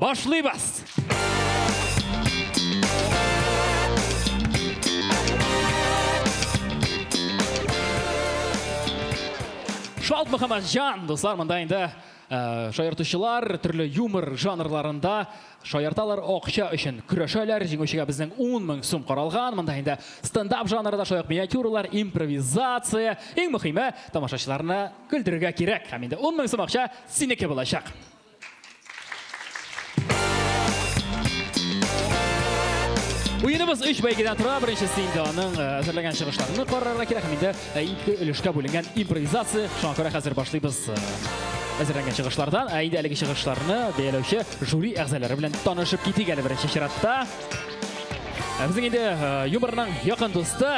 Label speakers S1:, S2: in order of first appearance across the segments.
S1: Башлыйбыз! Шалт Мөхәммәт Җан, дуслар, монда инде э, шаяртучылар төрле юмор жанрларында шаярталар акча өчен көрәшәләр. Җиңүчегә безнең 10 мең сум каралган. Монда инде стендап жанрында шаяк миниатюралар, импровизация. Иң мөһиме, тамашачыларны көлдерергә кирәк. Һәм инде 10 мең сум акча синеке булачак. Уеныбыз үч бәйгедән тора. Беренчесе инде аның э, әзерләгән чыгышларны карарга кирәк. Һәм инде э, ике өлешкә бүленгән импровизация. Шуңа күрә хәзер башлыйбыз э, әзерләнгән чыгышлардан. Ә инде әлеге чыгышларны бәяләүче жюри әгъзалары белән танышып китик әле беренче чиратта. Ә безнең инде юморның якын дусты,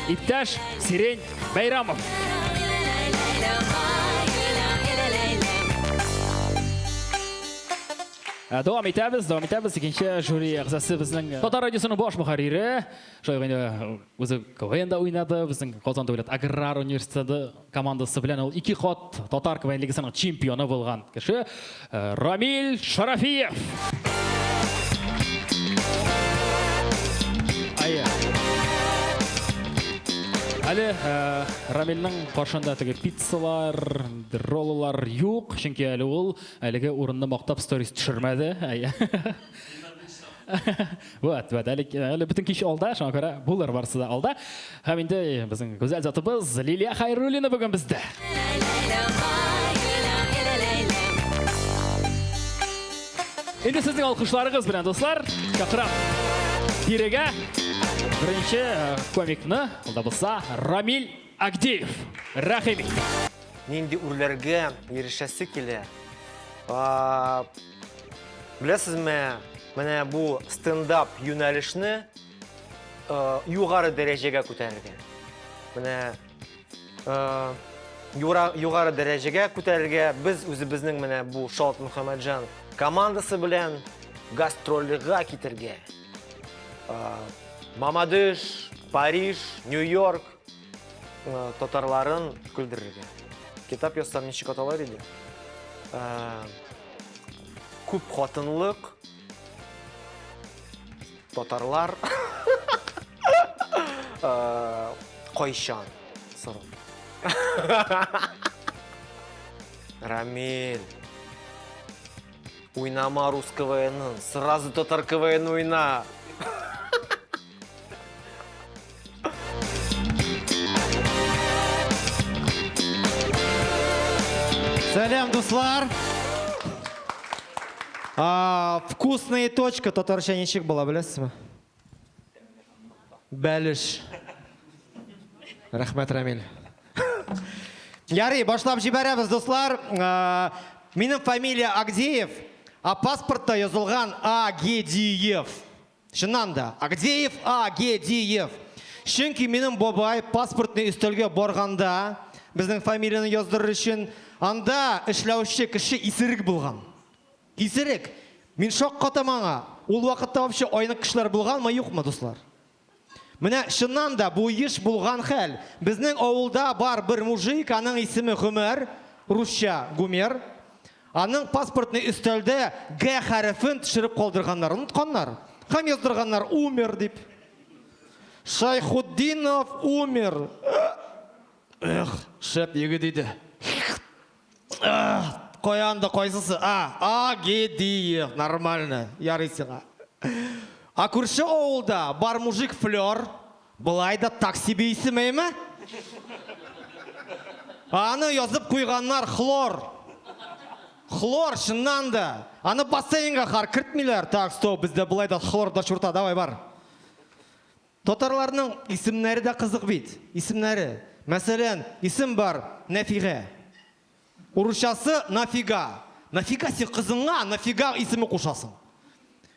S1: иптәш Сирень Бәйрамов. Ә, дәвам итәбез, дәвам итәбез. Икенче жюри әгъзасы безнең э, Татар радиосының баш мөхәррире. Шулай ук инде э, үзе КВНда уйнады, безнең Казан дәүләт аграр университеты командасы белән ул ике кат татар КВН лигасының чемпионы булган кеше. Рамиль Шарафиев! Әле э, Рамилнең каршында теге пиццалар, роллар юк, чөнки әле ул әлеге урынны мактап сторис төшермәде. вот вот әле әле бөтен кич алда шуңа күрә булыр барысы да алда һәм инде безнең гүзәл затыбыз лилия хайруллина бүген бездә инде сезнең алкышларыгыз белән дуслар чакырам тирегә беренче э, комикны ул да булса рамиль агдеев рәхим ит нинди
S2: үрләргә ирешәсе килә Беләсезме, менә бу стендап юнәлешне э, югары дәрәҗәгә күтәрергә. Менә э, югары дәрәҗәгә күтәрергә без үзебезнең менә бу Шалт Мөхәммәтҗан командасы белән гастрольга китергә. Э, Мамадыш, Париж, Нью-Йорк, Э, татарларын көлдерергә. Китап язсам ничек аталар иде? Э, күп хатынлык, татарлар, э, кайчан, сорау. Рамиль. Уйнама рус КВН, сразу татар КВН уйна.
S3: Сәлем, дуслар! А, вкусная точка татарча ничек була беләсезме? Бәлеш. Рәхмәт, Рамиль. Ярый, башлап җибәрәбез, дуслар. А, минем фамилия Агдеев, а паспортта язылган Агедиев. Чыннан да, Агдеев А. Гедиев. Чөнки минем бабай паспортный өстәлгә барганда, безнең фамилияне яздырыр өчен, анда эшләүче кеше исерек булган. Исерек! Мин шаккатам аңа. Ул вакытта вообще айнык кешеләр булганмы, юкмы, дуслар? Менә чыннан да бу еш булган хәл. Безнең авылда бар бер мужик, аның исеме Гомәр, русча Гумер. Аның паспортный өстәлдә Г хәрефен төшереп калдырганнар, онытканнар. Һәм яздырганнар Умер дип. Шайхутдинов Умер. Эх, шәп егет иде. Каян да кайсысы? А, Агедиев, нормально, ярый сиңа. А күрше авылда бар мужик Флер, Болай да такси бөйсемейме? Аны язып куйганнар хлор. Хлор, чыннан да. Аны бассейнга хар кертмиләр. Так, стоп, бездә болай да хлор да чурта, давай бар. Татарларның исемнәре дә кызык бит. Исемнәре. Мәсәлән, исем бар, Нәфигә. Урысчасы нафига. Нафига син кызыңа нафига исеме кушасың?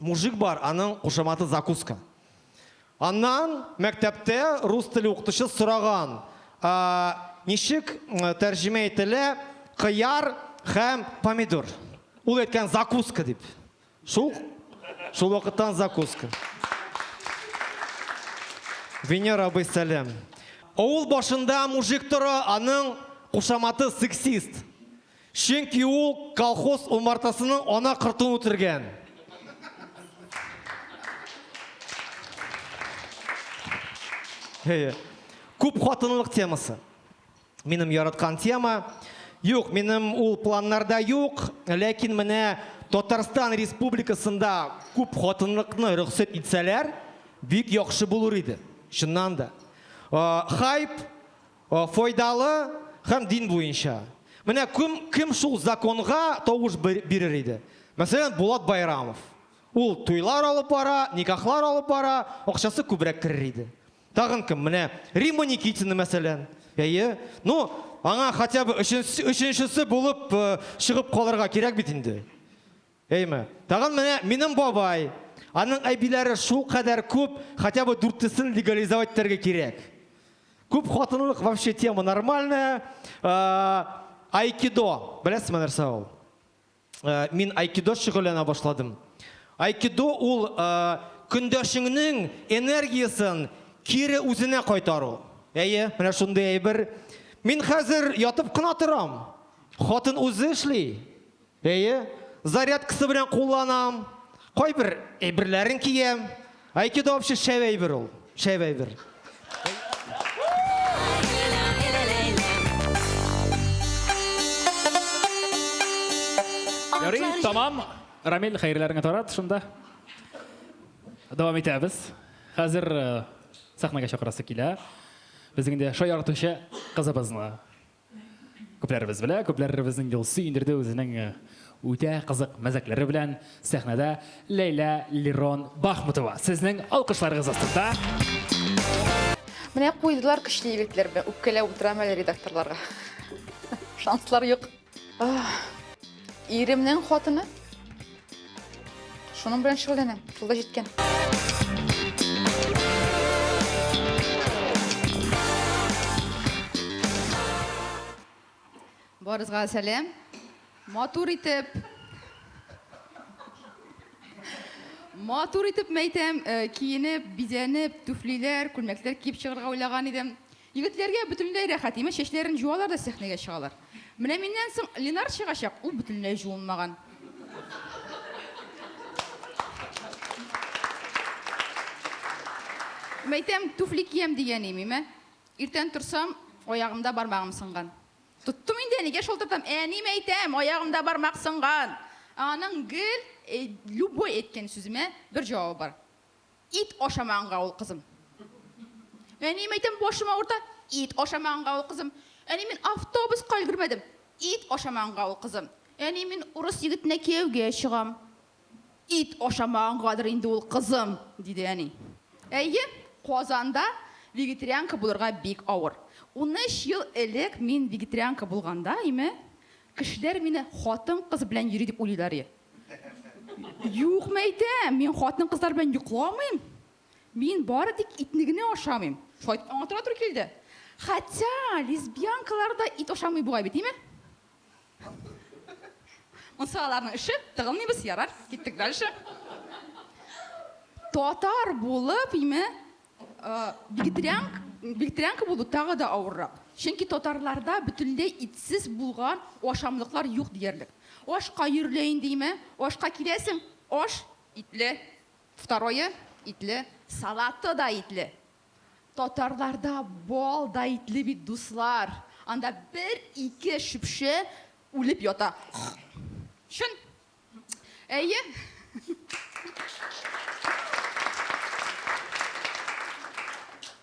S3: Мужик бар, аның кушаматы закуска. Аннан мәктәптә рус теле укытучы сораган, ә ничек тәрҗемә ителә кыяр һәм помидор? Ул әйткән закуска дип. Шул шул вакыттан закуска. Венер абый сәлам. Авыл башында мужик тора, аның кушаматы сексист. Чөнки ул колхоз умартасының ана кортын үтергән. Әйе. Күп хатынлык темасы. Минем яраткан тема. Юк, минем ул планнарда юк, ләкин менә Татарстан Республикасында күп хатынлыкны рөхсәт итсәләр, бик яхшы булыр иде. Чыннан да. Хайп Файдалы һәм дин буенча. Менә кем кем шул законга тавыш бирер иде? Мәсәлән, Булат Байрамов. Ул туйлар алып бара, никахлар алып бара, акчасы күбрәк керер иде. Тагын кем? Менә Римма Никитина, мәсәлән. Әйе. Ну, аңа хотя бы өченчесе булып чыгып калырга кирәк бит инде. Әйме. Тагын менә минем бабай. Аның әбиләре шул кадәр күп, хотя бы дүртесен легализовать итәргә кирәк. Күп хатынлык вообще тема нормальная. Айкидо. Беләсезме нәрсә ул? Мин айкидо шөгыльләнә башладым. Айкидо ул көндәшеңнең энергиясен кире үзенә кайтару. Әйе, менә шундый әйбер. Мин хәзер ятып кына торам. Хатын үзе эшли. Әйе, зарядкасы белән кулланам, кайбер әйберләрен киям. Айкидо вообще шәп әйбер ул, шәп әйбер.
S1: Ярый, тамам. Рамил, хәерләреңә тарат шунда. Дәвам итәбез. Хәзер э, сәхнәгә чакырасы килә. Безнең дә шаяртучы кызыбызны. Күпләребез белә, күпләребезнең Елсу Индерде үзенең э, үтә кызык мәзәкләре белән сәхнәдә Ләйлә Лирон Бахмутова. Сезнең алкышларыгыз астында.
S4: Менә куйдылар көчле егетләр белән. Үпкәләп утырам әле редакторларга. Шанслар юк. Иремнең хатыны. Шуның белән шөгыльләнәм. Шул да җиткән. Барызга сәлам. Матур итеп. Матур итеп мәйтәм, э, киенеп, бизәнеп, түфлиләр, күлмәкләр киеп чыгарга уйлаган идем. Егетләргә бөтенләй рәхәт, имеш, чәчләрен җуалар да сәхнәгә чыгалар. Менә миннән соң Ленар чыгачак, ул бөтенләй җуынмаган. Мәйтәм, туфли киям дигән имим, ә? Иртән торсам, аягымда бармагым сынган. Тоттым инде, әнигә шалтыратам, әни, мәйтәм, аягымда бармак сынган! Ә аның гел любой әйткән сүземә бер җавабы бар, Ит ашамаганга ул кызым. Әнием әйтәм, башым авырта, ит ашамаганга ул кызым. Әни мин автобуска өлгермәдем, ит ашамаганга ул кызым. Әни мин урыс егетенә кияүгә чыгам, ит ашамагангадыр инде ул кызым, диде әни. Әйе, Казанда вегетарианка булырга бик авыр. Унөч ел элек мин вегетарианка булганда име, кешеләр мине хатын-кыз белән йөри дип уйлыйлар иде. Юк, мәйтә, мин хатын кызлар белән йокламыйм. Мин бары тик итне генә ашамыйм. Шайтан аңа тора туры килде. Хәтя лесбиянкалар да ит ашамый бугай бит, име? Монсы аларның эше, тыгылмыйбыз, ярар, киттек дальше. Татар булып, име, Вегетарианка, вегетарианка булу тагы да авыррак. Чөнки татарларда бөтенләй итсез булган ашамлыклар юк диярлек. Ашка йөрелә индиме? Ашка киләсең, аш итле, второе итле, салаты да итле. Татарларда бал да итле бит, дуслар. Анда бер-ике шөпше үлеп ята. Чын. Әйе.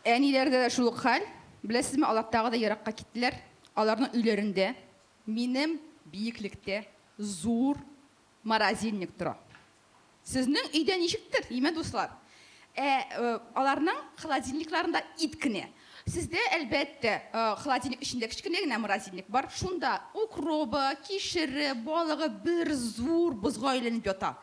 S4: Әниләрдә дә шул ук хәл. Беләсезме, алар тагы да еракка киттеләр. Аларның өйләрендә минем биеклектә зур морозильник тора. Сезнең өйдә ничектер, имә дуслар? Ә аларның холодильникларында ит кенә. Сездә, әлбәттә, холодильник эчендә кечкенә генә морозильник бар, шунда укробы, кишере, балыгы бер зур бозга әйләнеп ята.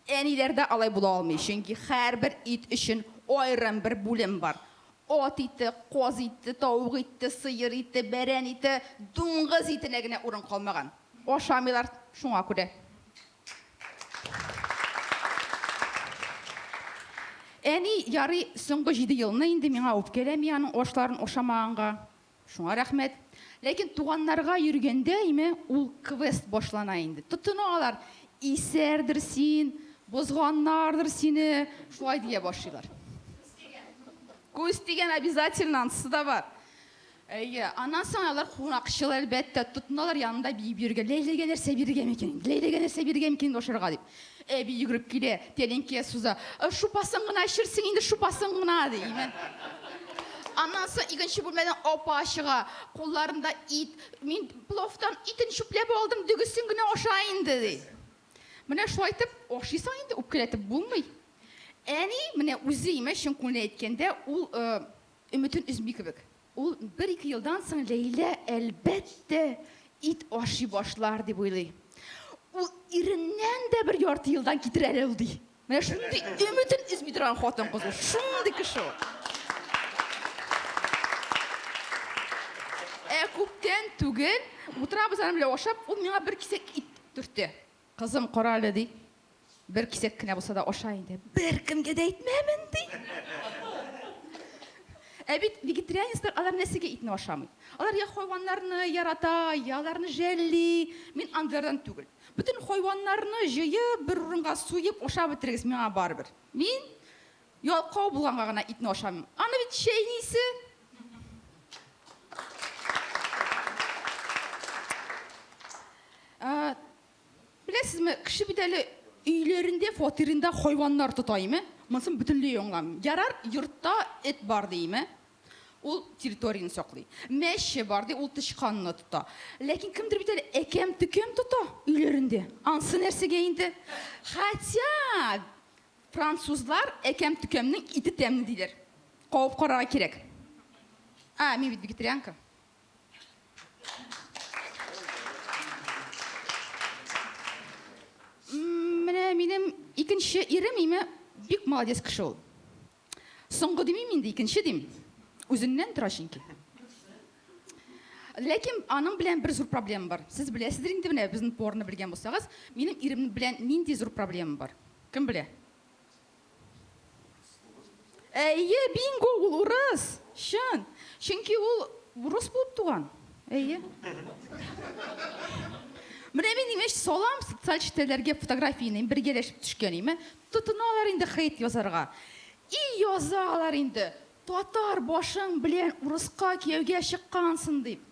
S4: Әниләрдә алай була алмый, чөнки һәрбер ит өчен аерым бер бүлем бар. Ат ите, каз ите, тавык ите, сыер ите, бәрән ите, дуңгыз итенә генә урын калмаган. Ашамыйлар шуңа күрә. Әни, ярый, соңгы җиде елны инде миңа үпкәләми аның ашларын ашамаганга. Шуңа рәхмәт. Ләкин туганнарга йөргәндә име ул квест башлана инде. Тотына алар, исәрдер син, бозганнардыр сине, шулай дия башлыйлар. Күз тигән обязательно, анысы да бар. Әйе, аннан соң алар кунакчыл, әлбәттә, тотыналар янында биеп йөрергә, Ләйләгә нәрсә бирергә микән инде, Ләйләгә нәрсә бирергә микән инде ашарга, дип. Әби йөгереп килә, тәлинкә суза, Шупасын гына эчерсең инде, шупасын гына, ди. Аннан соң икенче бүлмәдән апа чыга, кулларында ит, Мин пловтан итен чүпләп алдым, дөгесен генә аша инде, ди. Менә шулай итеп ашыйсың инде, үпкәләтеп булмый. Әни, менә үзе, имеш, чын күңелдән әйткәндә, ул Өметен өзми кебек. Ул бер-ике елдан соң Ләйлә, әлбәттә, ит ашый башлар, дип уйлый. Ул иреннән дә бер ярты елдан китер әле ул, ди. Менә шундый өметен өзми торган хатын-кыз ул. Шундый кеше ул. Ә күптән түгел, утырабыз аның белән ашап, ул миңа бер кисәк ит төртте. Кызым, кара әле, ди. Бер кисәк кенә булса да аша инде. Беркемгә дә әйтмәмен, ди. Ә бит вегетарианецлар алар нәрсәгә итне ашамый? Алар я хайваннарны ярата, я аларны жәлли. Мин андыйлардан түгел. Бөтен хайваннарны җыеп, бер урынга суеп ашап бетерегез, миңа барыбер. Мин Ялкау булганга гына итне ашамыйм. Аны бит чәйнисе. Беләсезме, кеше бит әле өйләрендә, фатирында хайваннар тотаймы? Монысын бөтенләй аңламыйм. Ярар, йортта эт бар диеме? Ул территорияне саклый. Мәче бар ди, ул тычканны тота. Ләкин кемдер бит әле әкәм-төкәм тота өйләрендә. Ансы нәрсәгә инде? Хотя Французлар әкәм-төкәмнең ите тәмле диләр. Кабып карарга кирәк. А, мин бит вегетарианка. Менә минем икенче ирем име бик молодец кеше ул. Соңгы димим инде, икенче дим. Үзеннән тора чөнки. Ләкин аның белән бер зур проблема бар. Сез беләсездер инде менә безнең поварны белгән булсагыз, минем ирем белән нинди зур проблема бар? Кем белә? Әйе, бинго, ул урыс! Чын! Чөнки ул урыс булып туган. Әйе. Менә мин имеш салам социаль челтәрләргә фотографияне, бергәләшеп төшкән име, тотыналар инде хейт язарга. И язалар инде, татар башың белән урыска кияүгә чыккансың дип.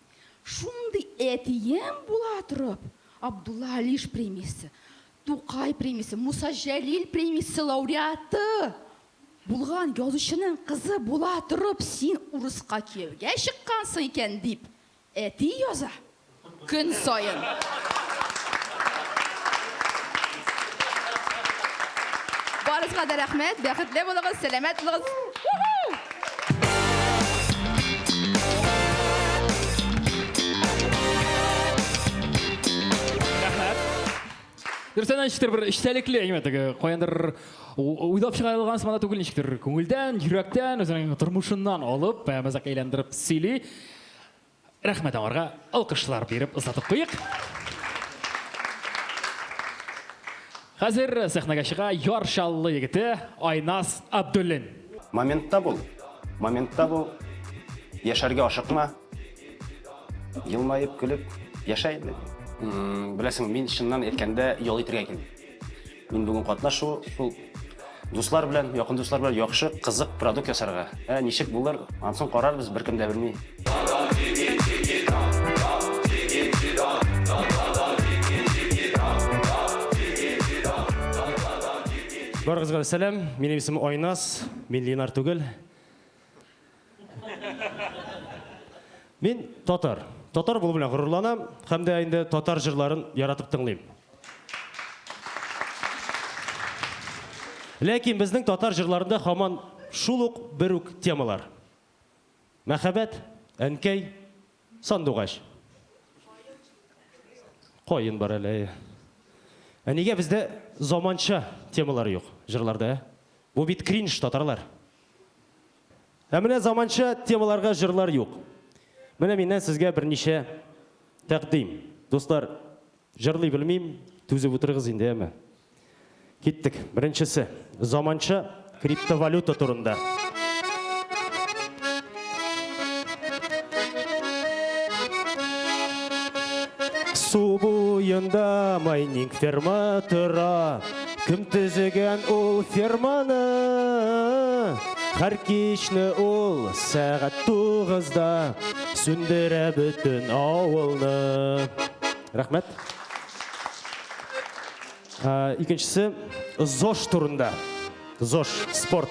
S4: Шундый әтиең була торып, Абдулла Алиш премиясе. Тукай премиясе, Муса Җәлил премиясе лауреаты булган язучының кызы була торып, син урыска кияүгә чыккансың икән, дип, әти яза көн саен. Барыгызга да рәхмәт, бәхетле булыгыз, сәламәт булыгыз!
S1: Дөрестән ничектер бер эчтәлекле, әйме теге каяндыр уйлап чыгарылган сыман түгел ничектер күңелдән, йөрәктән, үзенең тормышыннан алып, мәзәк әйләндереп сөйли. Рәхмәт аңарга алкышлар биреп озатып куйык. Хәзер сәхнәгә чыга Яр Чаллы егете Айнас Абдуллин. Моментта бул,
S5: моментта бул, яшәргә ашыкма. Елмаеп, көлеп яшә инде. Беләсең, мин чыннан әйткәндә ял итергә килдем. Мин бүген катнашу, шул дуслар белән, якын дуслар белән яхшы, кызык продукт ясарга. Ә ничек булыр, ансын карарбыз, беркем дә белми.
S6: Барыгызга да сәлам, минем исемем Айназ, мин Ленар түгел. Мин татар. Татар булу белән горурланам һәм дә инде татар җырларын яратып тыңлыйм. Ләкин безнең татар җырларында хаман шул ук бер үк темалар. Мәхәббәт, әнкәй, сандугач. Каен бар әле. Ә нигә бездә заманча темалар юк җырларда? Бу бит кринж татарлар. Ә менә заманча темаларга җырлар юк. Менә миннән сезгә берничә тәкъдим. Дуслар, җырлый белмим, түзеп утырыгыз инде, әмма. Киттек. Беренчесе, заманча криптовалюта турында. Су буенда майнинг ферма тора. Кем төзегән ул ферманы? Хәр кичне ул сәгать тугызда сүндерә бөтен авылны. Рәхмәт. Икенчесе ЗОШ турында. ЗОШ спорт.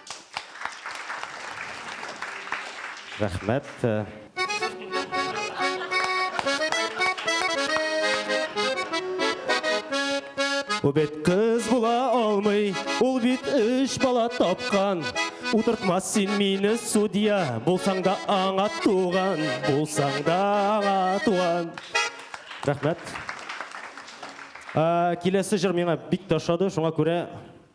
S6: Рәхмәт. Бу бит кыз була алмый, ул бит үш бала тапкан. Утыртмас син мине судья, булсаң да аңа туган, булсаң да аңа туган. Рәхмәт. Киләсе җыр миңа бик ташады, шуңа күрә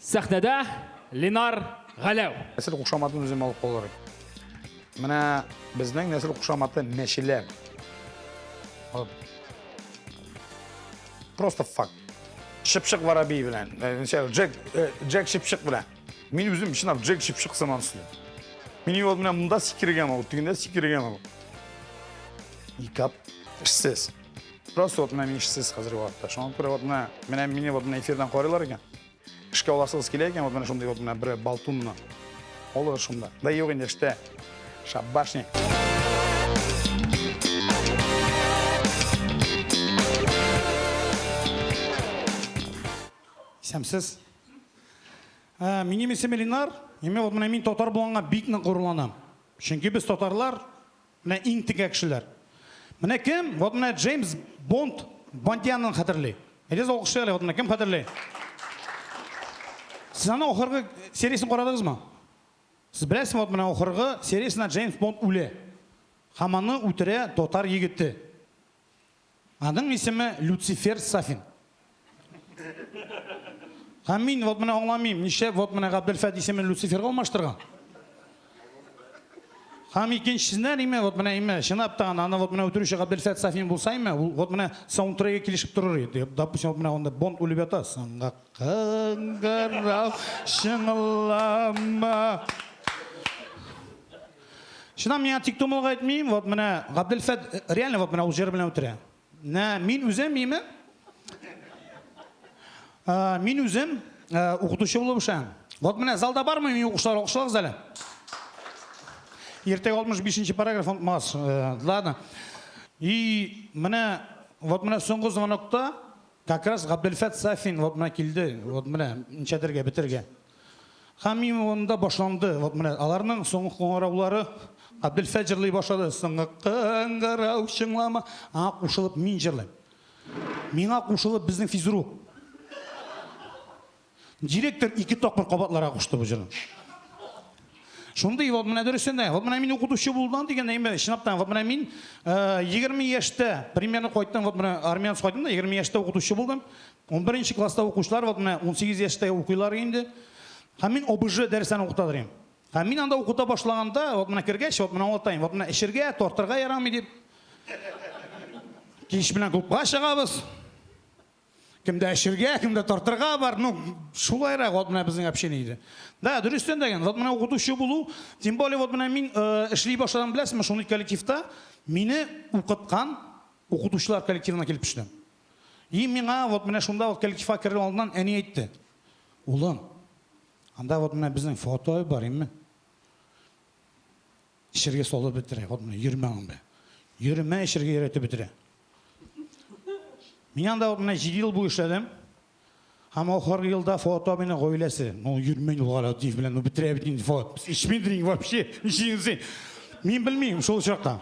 S1: Сәхнәдә Ленар Галәү. Нәсел кушаматын
S7: үзем алып калыр идем. Менә безнең нәсел кушаматы мәчелә. Просто факт. Шыпшык воробей белән, Джек, Джек шыпшык белән. Мин үзем чынлап Джек шыпшык сыман сөйлим. Мин ел менә монда сикергән ул, тегендә сикергән ул. Икап, эшсез. Просто вот менә мин эшсез хәзерге вакытта. Шуңа күрә вот менә менә мине вот менә эфирдан карыйлар икән. Эшкә аласыгыз килә икән, вот менә шундый вот менә бер балтунны. Алыгыз шунда. Да юк инде эштә. Шабашник. Исәмсез. Ә, минем исем Ленар. Именно вот менә мин татар булганга бик нык горурланам. Чөнки без татарлар Менә иң текә кешеләр. Менә кем? Вот менә Джеймс Бонд Бондианын хәтерли. Әйдәгез алкышлыйк әле, вот менә кем хәтерли? Сез аның ахыргы сериясен карадыгызмы? Сез беләсезме, вот менә ахыргы сериясендә Джеймс Бонд үлә. Һәм аны үтерә татар егете. Аның исеме Люцифер Сафин. Һәм мин вот менә аңламыйм, нишләп вот менә Габделфәт исемен Люциферга алмаштырган? Һәм икенчесеннән име, вот менә име, чынлап та аны вот менә үтерүче Габделфәт Сафин булса име, ул вот менә саундтреге килешеп торыр иде. Допустим, вот менә анда Бонд үлеп ята, соңга кыңгырау чыңлама. Чыннан миңа тик тумылга әйтми, вот менә Габделфәт реально вот менә ул җыр белән үтерә. Нә, мин үзем име? Мин үзем укытучы булып эшләм. Вот менә залда бармы мин укучылар алкышлагыз әле. Иртәгә 65 параграф онытмас. Ладно. И менә вот менә соңгы звонокта как раз Габделфәт Сафин вот менә килде. Вот менә ничәдергә бетергә. Хәмимованда башланды. Вот менә аларның соңгы кыңгыраулары Абделфәҗерлый башлады. Соңгы кыңгырау чыңлама. Аңа кушылып мин җырлыйм. Миңа кушылып безнең физрук. Директор ике тапкыр кабатларга кушты бу җырны. Шундый вот менә дөресен дә. Вот менә мин укытучы булдым дигәндә, инде чынлап та вот менә мин 20 яшьтә примерно кайттым, вот менә армиянс кайттым да 20 яшьтә укытучы булдым. Унберенче класста укучылар вот менә унсигез яшьтә укыйлар инде. Һәм мин ОБЖ дәресләрен укыта торыйм. Һәм мин анда укыта башлаганда, вот менә кергәч, вот менә аңлатайм, вот менә эчергә, тартырга ярамый дип. Кич белән клубка чыгабыз. Кемдә эчергә, кемдә тартырга бар, ну, шулайрак вот менә безнең общение иде. Да, дөрестән дә ген, вот менә укытучы булу, тем более вот менә мин э, эшли башладым, беләсезме, шундый коллективта мине укыткан укытучылар коллективына килеп төштем. И миңа вот менә шунда ук коллективка керер алдыннан әни әйтте. Улым, анда вот менә безнең фото бар, имме? Эчергә салып бетерә, вот менә йөрмә анда. Йөрмә эчергә өйрәтеп бетерә. Мин анда вот менә 7 ел бу эшләдем. Һәм ахыргы елда фото менә гаиләсе. Ну, йөрмә ул гала дип белән, ну бетерә бит инде фото. Ичмидин вообще, җинси. Мин белмим шул чакта.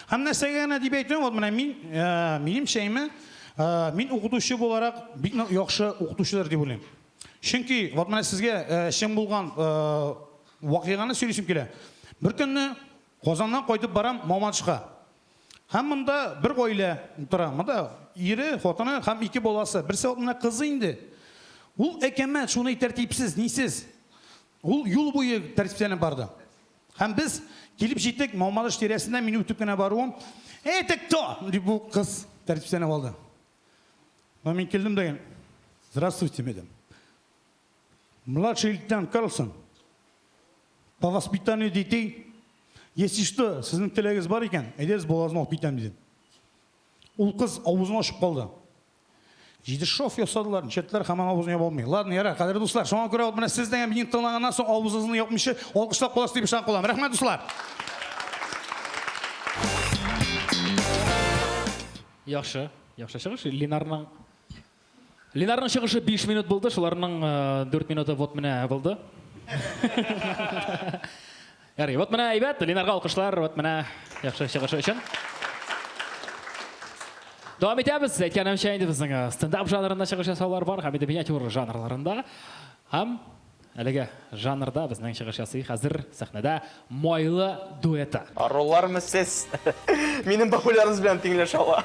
S7: Һәм нәрсәгә генә дип әйтүем, вот менә мин, ә, минем чәйме, ә, мин укытучы буларак бик нык яхшы укытучыдыр дип уйлыйм. Чөнки вот менә сезгә ә, чын булган ә, вакыйганы сөйлисем килә. Беркөнне Казаннан кайтып барам Мамадышка. Һәм монда бер гаилә утыра. Монда ире, хатыны һәм ике баласы. Берсе вот менә кызы инде. Ул әкәмәт, шуны тәртипсез, нисез. Ул юл буе тәртипләнеп барды. Һәм без килеп җиттек, Мамадыш тирәсеннән мин үтеп кенә баруым, Эй, ты кто? дип бу кыз тәртипләнеп алды. Но мин килдем дә, Здравствуйте, медам. Младший лейтенант Карлсон, по воспитанию детей, если что, сезнең теләгегез бар икән, әйдәгез, балаларны алып китәм, дидем. Ул кыз авызын ачып калды. Җиде шов ясадылар, ничәтләр һаман авызын яба алмый. Ладно, яра, кадерле дуслар, шуңа күрә ул менә сездән һәм минем тыңлаганнан соң авызыгызны япмыйча алкышлап каласыз дип ышанып калам. Рәхмәт, дуслар!
S1: Яхшы, яхшы чыгыш. Ленарның Ленарның чыгышы 5 минут булды, шуларның 4 минуты вот менә булды. Ярый, вот менә әйбәт, Ленарга алкышлар, вот менә яхшы чыгышы өчен. Дәвам итәбез. Әйткәнемчә инде безнең э, стендап жанрында чыгыш ясаулар бар һәм инде миниатюр жанрларында. Һәм әлеге жанрда безнең чыгыш ясый хәзер сәхнәдә Майлы дуэты. Арулармы сез?
S8: Минем бабулярыбыз белән тиңләшә ала.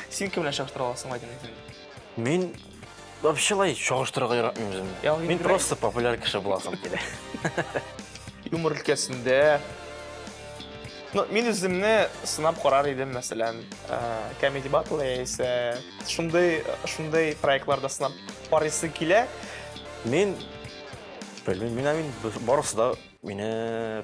S8: Син кем белән чагыштыра аласың, Айдин? Мин
S5: вообще лай чагыштырырга яратмыйм үземне. Мин просто популяр кеше буласым килә.
S8: Юмор өлкәсендә Ну, мин үземне сынап карар идем, мәсәлән, Comedy Battle яисә шундый шундый проектларда сынап карыйсы килә. Мин
S5: белмим, мин барысы да мине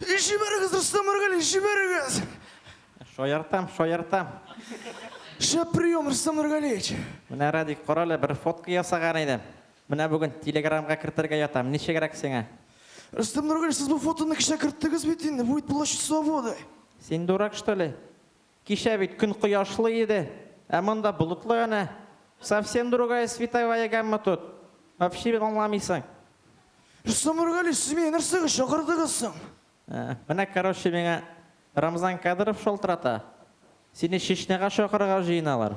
S9: Җибәрегез, оста Маргали, җибәрегез! Шаяртам,
S3: шаяртам.
S9: Шәп прием, Рөстәм Нургалиевич. Менә Радик, кара
S3: әле, бер фотка ясаган идем. Менә бүген телеграмга кертергә ятам. Ничегрәк сиңа? Рөстәм Нургалиевич,
S9: сез бу фотоны кичә керттегез бит инде, бу бит площадь Свободы. Син дурак, что
S3: ли? Кичә бит көн кояшлы иде, ә монда болытлы әнә. Совсем другая световая гамма тут. Вообще бит аңламыйсың.
S9: Исламургали, сез мине нәрсәгә чакырдыгыз соң? Менә
S3: короче миңа Рамзан Кадыров шалтырата, сине Чечняга чакырырга җыеналар.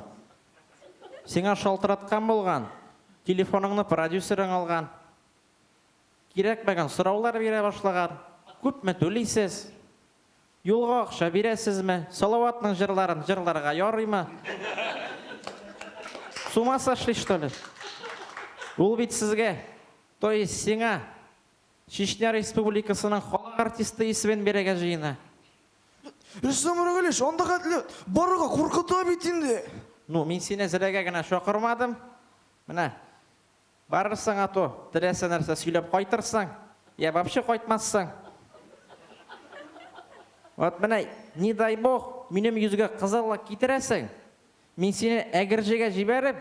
S3: Сиңа шалтыраткан булган, телефоныңны продюсерың алган. Кирәкмәгән сораулар бирә башлаган, күпме түлисез? Юлга акча бирәсезме? Салаватның җырларын җырларга ярыймы? С ума сошли что ли? Ул бит сезгә, то есть сиңа, Чечня республикасының халык артисты исемен бирәгә җыена.
S9: Рөстәм Рагилевич, анда хәтле барырга куркыта бит инде. Ну, мин сине
S3: зрәгә генә чакырмадым. Менә. Барырсың ато, теләсә нәрсә сөйләп кайтырсың, йә вообще кайтмассың. Вот менә, не дай Бог, минем йөзгә кызыллык китерәсең, мин сине Әгерҗегә җибәреп,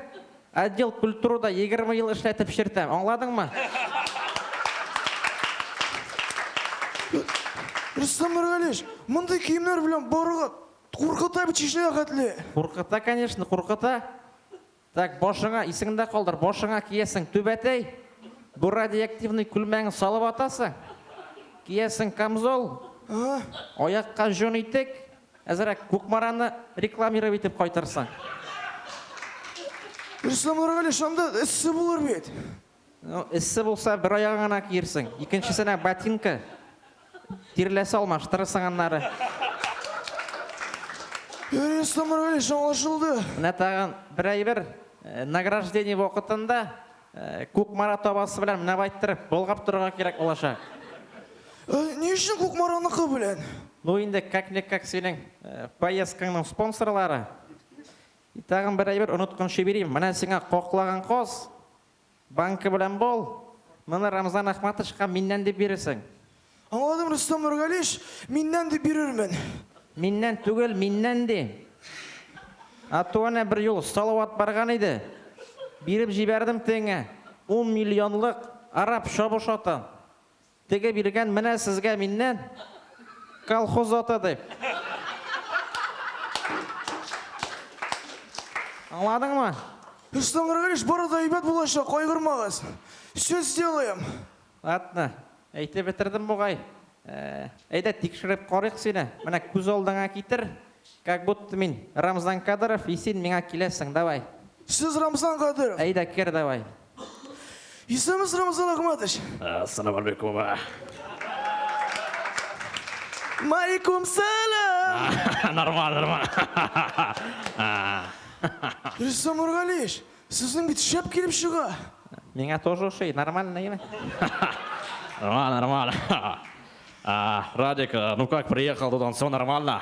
S3: отдел культурада егерме ел эшләтеп чертәм, аңладыңмы?
S9: Рөстәм Нургалиевич, мондый киемнәр белән барырга куркыта бит Чечняга хәтле. Куркыта, конечно,
S3: куркыта. Так, башыңа, исеңдә калдыр, башыңа киясең түбәтәй, бу радиоактивный күлмәгең салып атасың, киясең камзол, аякка җон итек, әзрәк Кукмараны рекламировать итеп кайтырсың.
S9: Рөстәм Нургали, шунда эссе булыр бит. Ну, эссе
S3: булса, бер аягың гына киерсең. Икенчесенә ботинка, тирләсе алмаштырырсың аннары.
S9: Юрий Самурович, аңлашылды. Менә тагын
S3: бер әйбер. Э, награждение вакытында э, Кукмара табасы белән менә байтырып болгап торырга кирәк булачак. Э,
S9: ни өчен Кукмараныкы белән? Ну инде
S3: как-никак синең поездкаңның спонсорлары. И тагын бер әйбер оныткан шибирим, менә сиңа каклаган каз, банка белән бал, моны Рамзан Ахматовичка миннән дип бирерсең. Аңладым,
S9: Рөстәм Нургалич, миннән дип бирермен. Миннән
S3: түгел, миннән ди. А то әнә бер юл Салават барган иде, биреп җибәрдем тегеңә ун миллионлык араб чабыш атын. Теге биргән менә сезгә миннән колхоз аты дип. Аңладыңмы? Руслан
S9: Григорьевич, бары да әйбәт булачак, кайгырмагыз. Все сделаем. Ладно,
S3: әйтеп бетердем бугай. Әйдә, тикшереп карыйк сине. Менә күз алдыңа китер, как будто мин Рамзан Кадыров и син миңа киләсең, давай. Сез Рамзан
S9: Кадыров? Әйдә, кер давай. Исәнмесез, Рамазан Ахматович. Ассаламу алейкум. Малейкум сәлам. Нормально, нормально. Рөстәм Нургалиевич, сезнең бит шәп килеп чыга. Миңа
S10: тоже ошый, нормально имя. Нормально, нормально.
S6: Радик, ну как, приехал туда, все нормально?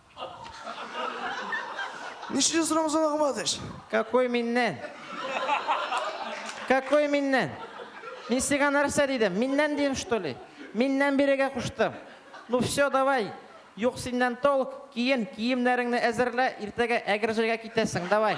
S9: Ничек сорамыз аңламадыш? Какой миннән?
S10: Какой миннән? Мин сиңа нәрсә дидем? Миннән дидем, что ли? Миннән бирегә куштым. Ну все, давай. Юк синнән толк, киен, киемнәреңне әзерлә, иртәгә әгерҗегә китәсең, давай.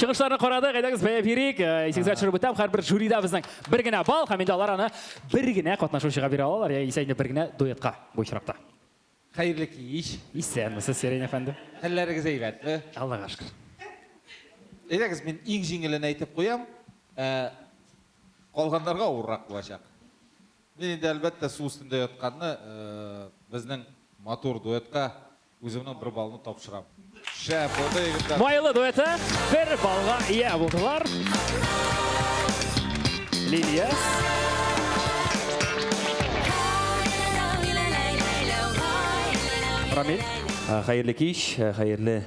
S1: Чыгышларны карадык, әйдәгез бәяп йөрик. Э, исегезгә төшереп үтәм, һәрбер жюрида безнең бер генә балл һәм инде алар аны бер генә катнашучыга бирә алалар, яисә инде бер генә дуэтка бу очракта. Хәерле
S11: кич. Исәнмесез, Сирень
S1: әфәнде. Хәлләрегез әйбәтме?
S11: Аллага шөкер. Әйдәгез, мин иң җиңелен әйтеп куям. Э, калганнарга авыррак булачак. Мин инде әлбәттә су өстендә ятканны э, безнең матур дуэтка Үземнең бер балны тапшырам. Шәп булды, егетләр. Майлы дуэты
S1: бер балга ия булдылар. Лилия. Рамиль. Хәерле кич,
S12: хәерле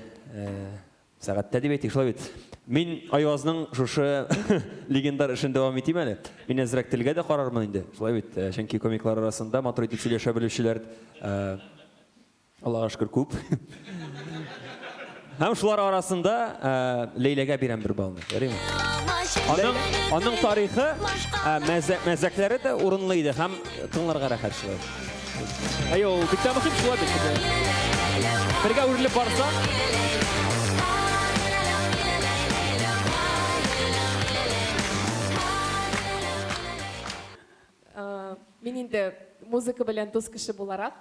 S12: сәгатьтә дип әйтик, шулай бит. Мин Айвазның шушы легендар эшен дәвам итим әле. Мин әзрәк телгә дә карармын инде, шулай бит. Чөнки комиклар арасында матур итеп сөйләшә белүчеләр Аллага шөкер, күп. Һәм шулар арасында Ләйләгә бирәм бер балны. Ярыймы? Аның, аның тарихы, мәзәкләре дә урынлы иде һәм тыңларга рәхәт шулай. Әйе,
S1: ул бик тә мөһим шулай бит. Бергә үрелеп барса.
S13: Мин инде музыка белән дус кеше буларак,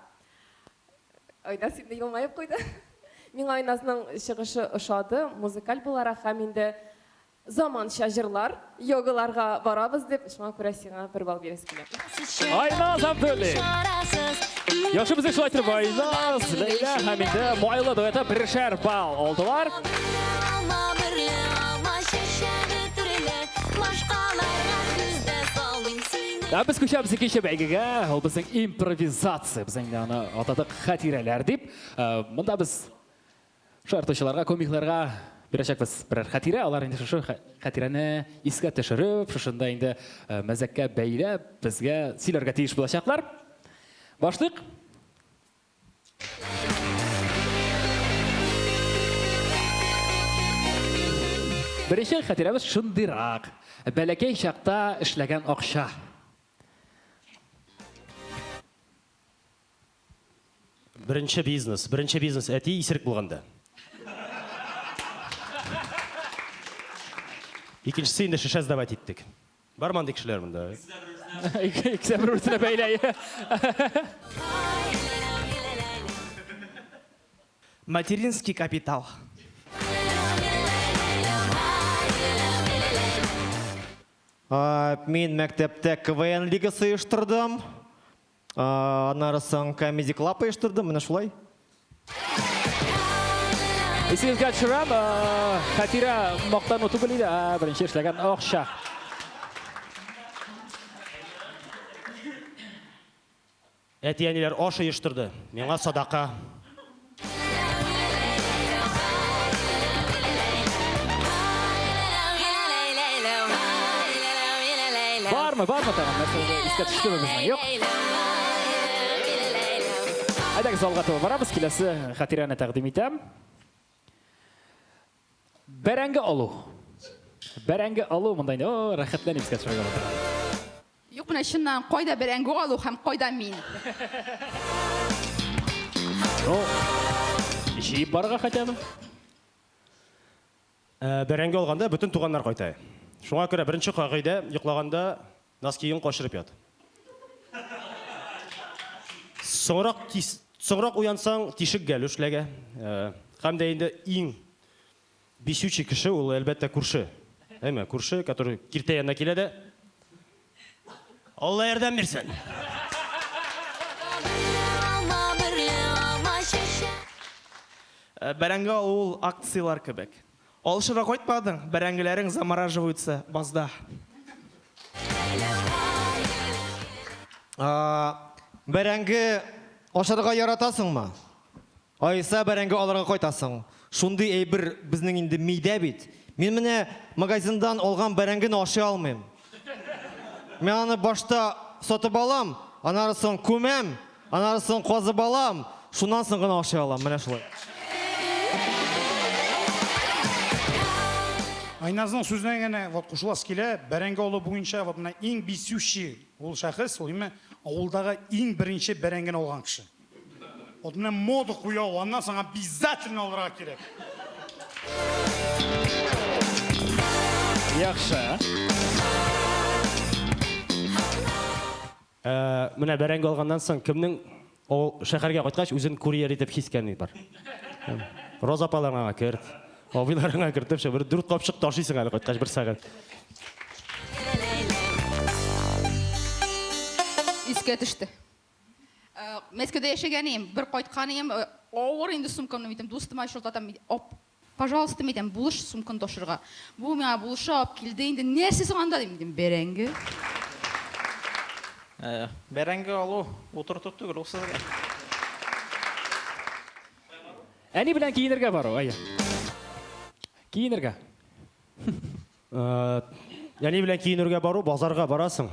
S13: Айназ инде елмаеп куйды. Миңа Айназның чыгышы ошады, музыкаль буларак һәм инде заманча җырлар, йогаларга барабыз дип, шуңа күрә сиңа бер балл бирәсе килә. Айназ Абдуллин.
S1: Яхшы безне шулай итеп Айназ, Ләйлә һәм инде Майлы дуэты бершәр балл алдылар. Ә без күчәбез икенче бәйгегә. Ул безнең импровизация. Без инде аны атадык хатирәләр дип. Э, Монда без шаяртучыларга, комикларга бирәчәкбез берәр хатирә. Алар инде шушы хә- хатирәне искә төшереп, шушында инде э, мәзәккә бәйләп, безгә сөйләргә тиеш булачаклар. Башлыйк. Беренче хәтирәбез шундыйрак. Бәләкәй чакта эшләгән акча.
S6: Беренче бизнес. Беренче бизнес әти исерек булганда. Икенчесе инде шешә сдавать иттек. Бар мандый кешеләр монда? Икесе
S1: дә бер-берсенә бәйле.
S9: Материнский капитал.
S3: Мин мәктәптә КВН лигасы оештырдым. Аннары соң Comedy Club оештырдым, менә шулай.
S1: Исегезгә төшерәм, хәтирә мактану түгел иде, ә беренче эшләгән акча.
S6: Әти-әниләр аш оештырды, миңа садака.
S1: Бармы, бармы тагын? Нәрсәгә искә төштеме безнең? Юк. Әйдәгез залга таба барабыз, киләсе хатирәне тәкъдим итәм. Бәрәңге алу. Бәрәңге алу монда инде о, рәхәтләнеп искә төшерергә булдым. Юк, менә
S4: чыннан кайда бәрәңге алу һәм кайда мин?
S1: Ну, җыеп барырга хотя бы.
S6: Бәрәңге алганда бөтен туганнар кайта. Шуңа күрә беренче кагыйдә, йоклаганда Носкиың качырып ят. Соңрак кис, соңрак уянсаң, тишек гәлү эшләгә. Э, Һәм дә инде иң бисючий кеше ул, әлбәттә, күрше. Әйме, күрше, который киртә янына килә дә. Алла ярдәм бирсен! Алма берле алма
S9: чәчәк. Э, Бәрәңге алу ул акцияләр кебек. Алышырга кайтмадың, бәрәңгеләрең замораживаются базда.
S3: Бәрәңге ашарга яратасыңмы? Аиса бәрәңге алырга кайтасың. Шундый әйбер безнең инде мидә бит. Мин менә магазиндан алган бәрәңгене ашый алмыйм. Мен аны башта сатып алам, анары соң күмәм, анары соң казып алам, шуннан соң гына ашый алам. Менә шулай.
S7: Айназның сүзенә генә вот кушыласы килә, бәрәңге алу буенча вот менә иң бисүче ул шәхес, ул именно авылдагы иң беренче бәрәңгене алган кеше. Вот менә мода куя ул, аннан соң обязательно алырга кирәк.
S1: Яхшы.
S6: Ә, менә бәрәңге алганнан соң кемнең ул шәһәргә кайткач үзен курьер итеп хискәни бар? Роза апаларыңа керт, абыйларыңа кертеп, шә бер дүрт капчык ташыйсың әле кайткач бер сәгать.
S4: Искә төште. Мәскәүдә яшәгәнем, бер кайтканым, авыр инде сумкамны митем, дустыма чылтатам, ап, пожалуйста, митем, булыш сумканы ташырга. Бу миңа булышы алып килде инде, нәрсә соң анда, дим, дим, бәрәңге.
S10: Бәрәңге алу утырту түгел, ул сезгә.
S1: Әни белән киенергә бару, әйе. Киенергә.
S6: Әни белән киенергә бару, базарга барасың.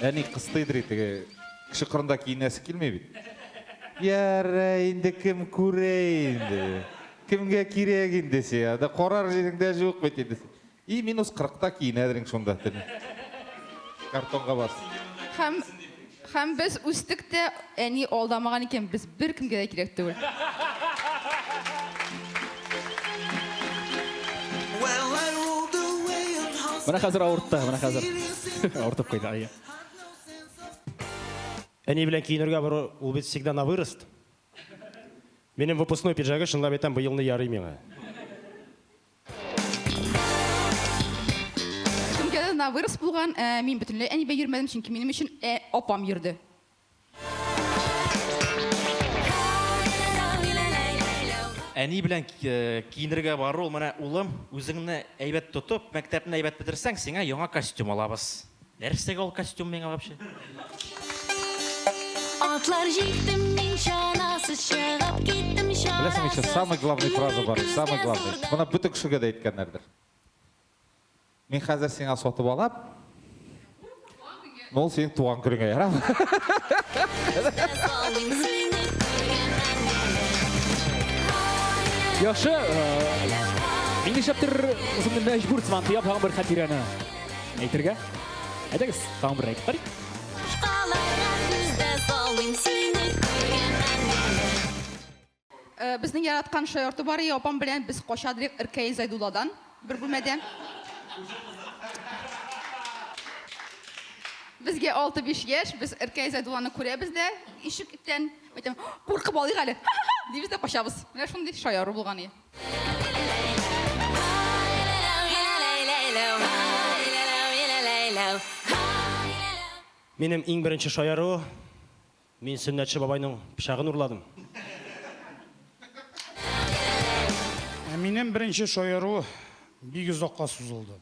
S11: Әни кыстый дри теге кеше кырында киенәсе килми бит. Яра инде кем күрә инде. Кемгә кирәк инде сиңа? Да карар җиреңдә җук бит инде. И минус 40-та киенәдең шунда. Картонга бас. Хәм
S4: хәм без үстек тә әни алдамаган икән без беркемгә дә кирәк түгел.
S1: Менә хәзер авыртты, менә хәзер. Авыртып куйды, ай. Әни
S6: белән киенергә бару, ул бит всегда на вырост. Минем выпускной пиджагы, чынлап әйтәм, быелны ярый миңа.
S4: Кемгәдер на вырост булган, ә мин бөтенләй әнибә йөрмәдем, чөнки минем өчен апам йөрде.
S10: Әни белән э, киенергә бару, менә улым, үзеңне әйбәт тотып, мәктәпне әйбәт бетерсәң, сиңа яңа костюм алабыз. Нәрсәгә ул костюм миңа вообще?
S14: Атлар җиттем мин чанасыз чыгып киттем чанасыз. Беләсең, самый
S11: главный фраза бар, самый главный. Моны бөтен кешегә дә әйткәннәрдер. Мин хәзер сиңа сатып алам. Ну, синең туган көнеңә ярам.
S1: Яхшы. Мин ишәптер үземне мәҗбүр сыман тыяп һәм бер хатирәне әйтергә. Әйдәгез, тагын бер әйтеп карыйк.
S4: Безнең яраткан шаярту бар и, апам белән без кача дирек Ркаил Зайдулладан, бер бүлмәдә. Безгә алты биш яшь, без Ркаил Зайдулланы күрәбез дә ишек иттән, әйтәм, куркып алыйк әле, ха-ха-ха, дибез дә качабыз. Менә шундый шаяру булган и.
S6: Минем иң беренче шаяру, Мин Сөннәтче бабайның пычагын урладым. Ә
S7: минем беренче шаяру бик озакка сузылды.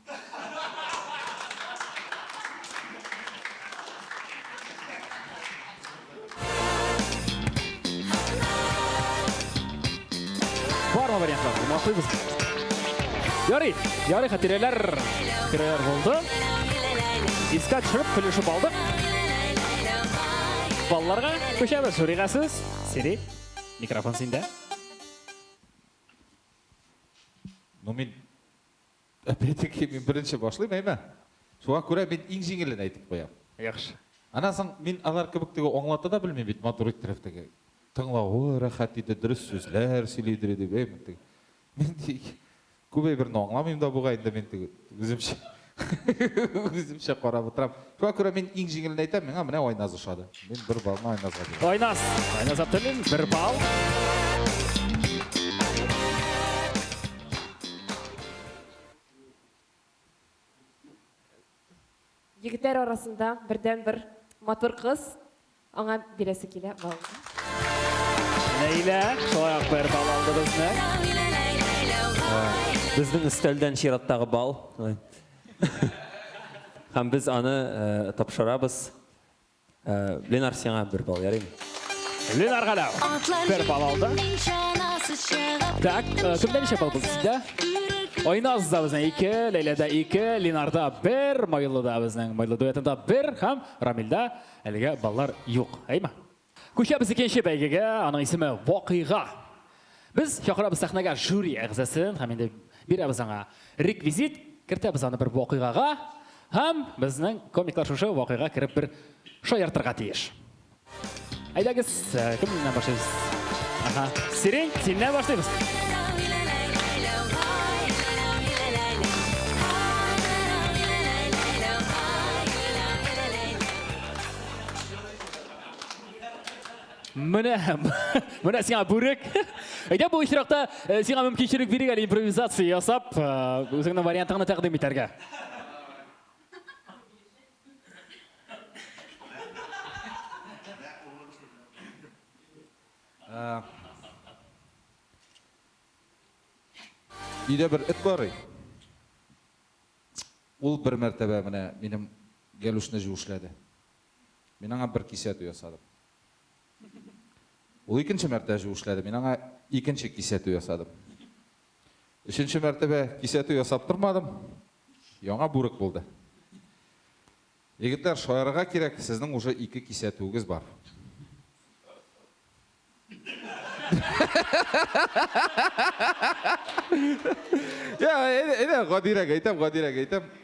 S1: Бармы вариантлар? Махсыз. Ярый, ярый хатирәләр. Хатирәләр булды. Искә төшереп, көлешеп алдык. Балларга күчәбез. Шурига сүз. Сири, микрофон синдә.
S11: Ну, мин Әпәтеки мин беренче башлыйм, әйме? Шуңа күрә мин иң җиңелен әйтеп куям. Яхшы.
S1: Аннан соң мин
S11: алар кебек теге аңлата да белмим бит, матур иттереп теге. Тыңлавы рәхәт иде, дөрес сүзләр сөйли иде дип, әйме теге. Мин тик күп әйберне аңламыйм да бугай инде мин теге үземчә. Үземчә карап утырам. Шуңа күрә мин иң җиңелен әйтәм, миңа менә Айназ ошады. Мин бер балны Айназга бирәм. Айназ. Айназ Абдуллин,
S1: бер балл.
S13: Егетләр арасында бердәнбер матур кыз. Аңа бирәсе килә балны.
S1: Ләйлә, шулай ук бер бал алды безне.
S12: Безнең өстәлдән чираттагы бал. Һәм без аны тапшырабыз. Ленар, сиңа бер бал, ярыймы? Ленар
S1: Галәү бер бал алды. Так, кемдә ничә бал булды сездә? Айназ да безнең ике, Ләйләдә ике, Ленарда бер, Майлыда безнең Майлы дуэтында бер һәм Рамилдә Әлегә баллар юк, әйме? Күчәбез икенче бәйгегә, аның исеме Вакыйга. Без чакырабыз сәхнәгә жюри әгъзасын һәм инде бирәбез аңа реквизит, кертәбез аны бер вакыйгага һәм безнең комиклар шушы вакыйга кереп бер шаяртырга тиеш. Әйдәгез! Э, кем менә башлыйбыз? Аха. Сирень, синнән башлыйбыз. Менә, менә сиңа бүрек. Әйдә бу очракта э, сиңа мөмкинчелек бирик әле импровизация ясап, э, үзеңнең вариантыңны тәкъдим итәргә.
S11: Өйдә бер эт бар. Ул бер мәртәбә менә минем гәлүшне җүшләде. Мин аңа бер кисәтү ясадым. Ул икенче мәртәбә җүшләде. Мин аңа икенче кисәтү ясадым. Өченче мәртәбә кисәтү ясап тормадым. Яңа бүрек булды. Егетләр, шаярырга кирәк, сезнең уже ике кисәтүегез бар. Я, әйдә, гадирәк әйтәм, гадирәк әйтәм.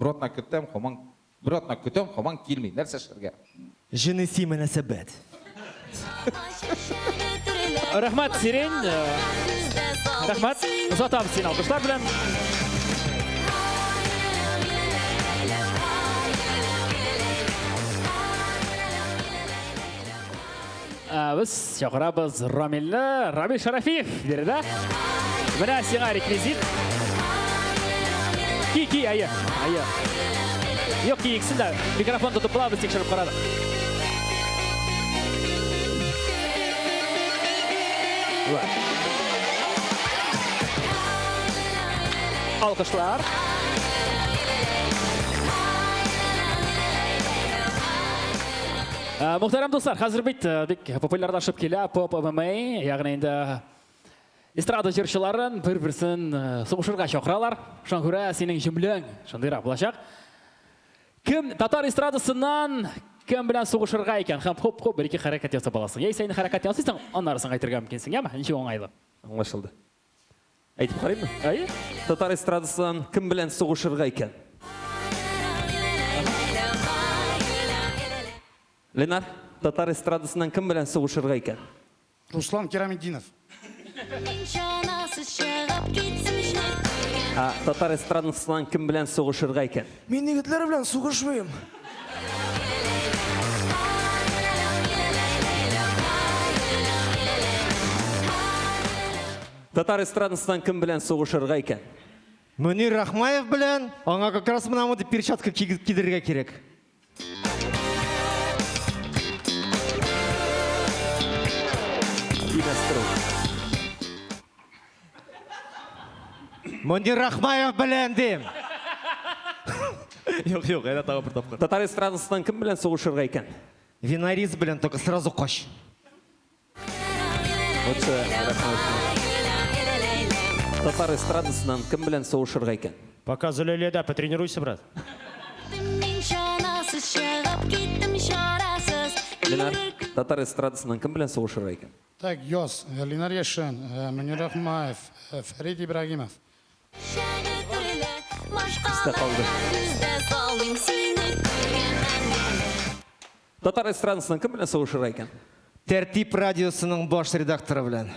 S11: Бер атна көтәм, хаман Бер атна көтәм, хаман килми, нәрсә эшләргә? Җенеси
S3: мөнәсәбәт.
S1: Рәхмәт, Сирень. Рәхмәт. Озатам син алкышлар белән. Ә, без чакырабыз Рамилне, Рамил Шарафиев биредә. Менә сиңа реквизит. Ки, ки, әйе, әйе. Юк, ки, иксен дә микрофон тотып була, без тикшереп карадык. Алкышлар. Э, Мөхтәрәм дуслар, хәзер бит э, бик популярлашып килә поп ММА, ягъни инде эстрада җырчыларын бер-берсен э, сугышырга чакыралар. Шуңа күрә синең җөмләң шундыйрак булачак. Кем татар эстрадасыннан кем белән сугышырга икән һәм хоп-хоп бер-ике хәрәкәт ясап аласың. Яисә инде хәрәкәт ясыйсың, аннары соң әйтергә мөмкинсең, яме? Ничек уңайлы? Аңлашылды.
S12: Әйтеп карыймы? Әйе. Татар
S1: эстрадасыннан
S12: кем белән сугышырга икән? Ленар, татар эстрадасыннан кем белән сугышырга икән? Руслан
S7: Кираметдинов.
S14: Татар эстрадасыннан
S12: кем белән сугышырга икән? Мин егетләр белән
S9: сугышмыйм.
S12: Татар эстрадасыннан кем белән сугышырга икән? Мөнир
S3: Рахмаев белән, аңа как раз мына мондый перчатка кидерергә кирәк. Димәс труп. Мөнир Рахмаев белән дим. Юк, юк, әнә тагы бер тапкыр. Татар эстрадасыннан кем белән
S12: сугышырга икән? Винарис белән
S3: только сразу кач.
S12: Татар эстрадасыннан кем белән сугышырга икән? Пока Зөләйләдә,
S6: потренируйся, брат.
S14: Ленар,
S12: татар эстрадасыннан кем белән сугышырга икән? Так, яз,
S7: Линар Яшин, Мөнир Ахмаев, Фәрит Ибрагимов. Чәне төрле,
S12: машкалада сүз дә салмыйм, сине күргәннән бирле. Татар эстрадасының кем белән сугышырга икән? Тәртип
S3: радиосының баш редакторы белән.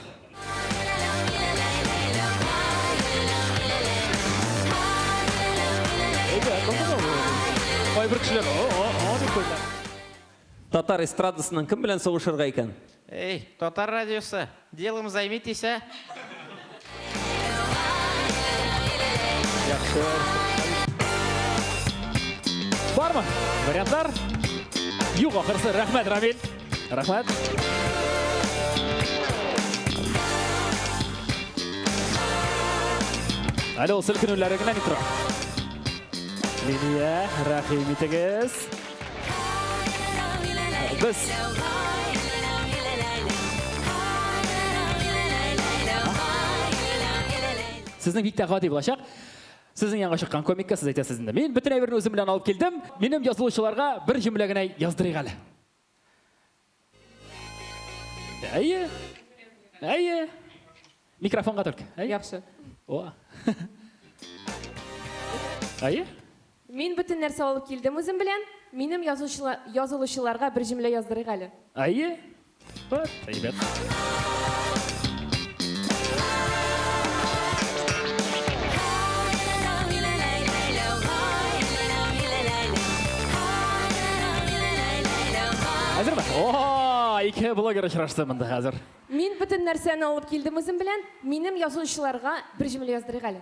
S1: Кайбер кешеләр, о-о-о дип куйдылар.
S12: Татар эстрадасының кем белән сугышырга икән? Эй, Татар
S10: радиосы, делом займитесь, а!
S1: Бармы? Вариантлар? Юк, ахырсы. Рәхмәт, Рамил. Рәхмәт. Әле ул селкенүләре генә ни тора. Лилия, рәхим итегез. Без Сезнең бик тә гади булачак. Сезнең янга чыккан комикка сез әйтәсез инде. Мин бөтен әйберне үзем белән алып килдем. Минем язылучыларга бер җөмлә генә яздырыйк әле. Әйе. Әйе. Микрофонга только. Әйе. Яхшы. О. Әйе. Мин бөтен
S13: нәрсә алып килдем үзем белән. Минем язылучыларга бер җөмлә яздырыйк әле. Әйе.
S1: Вот, әйбәт. ике блогер очрашты монда хәзер. Мин бөтен нәрсәне
S13: алып килдем үзем белән. Минем язучыларга бер җөмлә яздырыйк әле.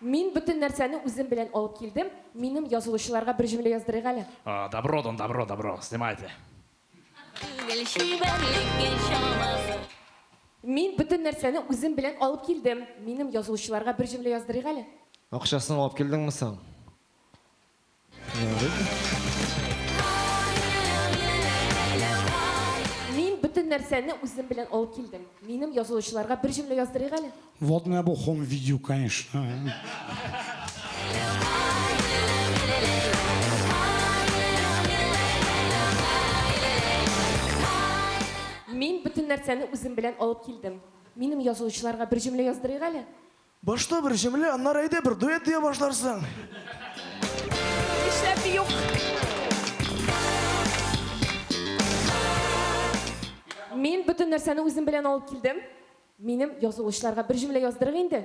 S13: Мин бөтен нәрсәне үзем белән алып килдем, минем язылучыларга бер җөмлә яздырыйк әле. О, добро, дон добро,
S1: добро, снимайте. Түгел чибәрлеккә
S13: чамасы. Мин бөтен нәрсәне үзем белән алып килдем, минем язылучыларга бер җөмлә яздырыйк әле. Акчасын алып
S3: килдеңме соң?
S13: Мин бөтен нәрсәне үзем белән алып килдем. Минем язылучыларга бер җөмлә яздырыйк әле. Вот менә бу хом
S7: видео, конечно.
S13: Мин бөтен нәрсәне үзем белән алып килдем. Минем язылучыларга бер җөмлә яздырыйк әле. Башта бер
S9: җөмлә, аннары әйдә бер дуэт дия башларсың.
S13: Нишләп юк? Мин бөтен нәрсәне үзем белән алып килдем. Минем язылучыларга бер җөмлә яздырыйк инде.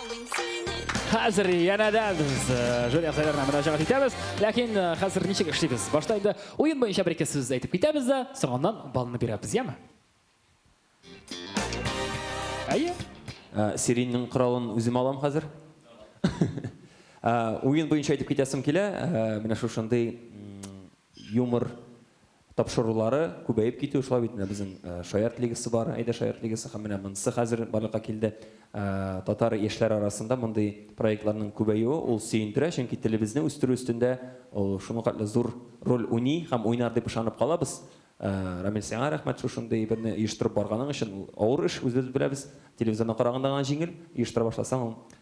S1: Хәзер янәдә без жюри әгъзаларына мөрәҗәгать итәбез. Ләкин хәзер ничек эшлибез? Башта инде уен буенча бер-ике сүз әйтеп китәбез дә, соңыннан балны бирәбез, яме? Әйе.
S12: Сиринең коралын үзем алам хәзер. Уен буенча әйтеп китәсем килә, менә шушындый юмор тапшырулары күбәеп китү, шулай бит менә безнең Шаярт лигасы бар, Әйдә Шаярт лигасы һәм менә монысы хәзер барлыкка килде. Татар яшьләре арасында мондый проектларның күбәюе ул сөендерә, чөнки телебезне үстерү өстендә ул шуңкатлы зур роль уйный һәм уйнар дип ышанып калабыз. Рамил, сиңа рәхмәт шушындый берне оештырып барганың өчен. Ул авыр эш, үзебез беләбез. Телевизорның караганда гына җиңел, оештыра башласаң ул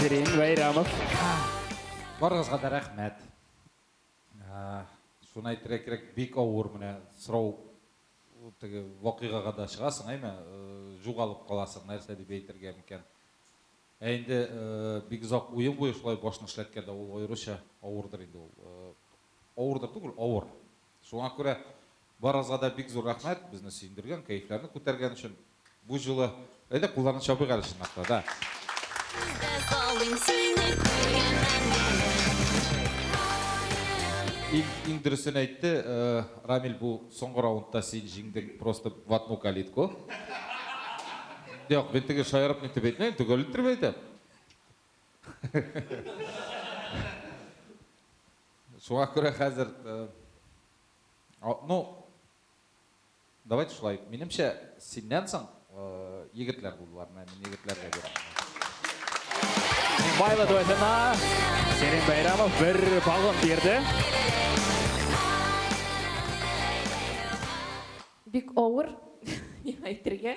S1: Керим Вәйрамов.
S11: Барыгызга да рәхмәт. Шуны әйтергә кирәк, бик авыр менә сорау теге вакыйгага да чыгасың, әйме, җугалып каласың, нәрсә дип әйтергә микән. Ә инде бик озак уен буе шулай башны эшләткәндә ул аеруча авырдыр инде ул. Авырдыр түгел, авыр. Шуңа күрә Барыгызга да бик зур рәхмәт, безне сөендергән, кәефләрне күтәргән өчен бу җылы. Әйдә, кулларны чабыйк әле чынлап та, да. Иң дөресен әйтте Рамил, бу соңгы раундта син җиңдең просто в одну калитку. Юк, мин теге шаярып нитеп әйтмим, төгәл иттереп әйтәм. Шуңа күрә хәзер А, ну, давайте шулай. Минемчә, синнән соң э, егетләр булдылар. Менә мин егетләргә бирәм.
S1: Майлы дуэтына Серин Байрамов бер балын бирде.
S13: Бик авыр, миңа әйтергә.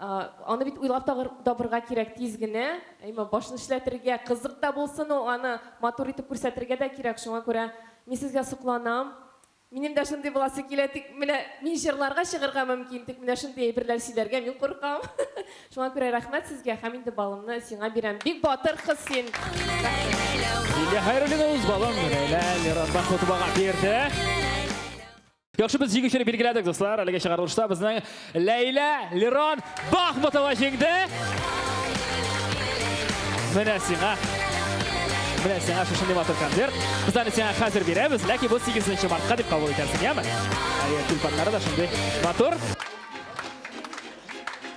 S13: Аны бит уйлап табырга кирәк тиз генә, әйме, башны эшләтергә, кызык та булсын ул, аны матур итеп күрсәтергә дә кирәк, шуңа күрә мин сезгә сокланам. Минем дә шундый буласы килә, тик менә мин җырларга чыгарга мөмкин, тик менә шундый әйберләр сөйләргә мин куркам. Шуңа күрә рәхмәт сезгә һәм инде балымны сиңа бирәм. Бик батыр кыз син. Рәхмәт.
S1: Лилия Хәйруллина үз балын Ләйлә Миранбахутовага бирде. Яхшы без җиңүчене билгеләдек, дуслар. Әлеге чыгарылышта безнең Ләйлә Лерон Бахмутова җиңде. Менә сиңа. Менә сиңа шушындый матур концерт. Без аны сиңа хәзер бирәбез, ләкин бу 8 мартка дип кабул итәрсең, яме? Әйе, тюльпаннары да шундый матур.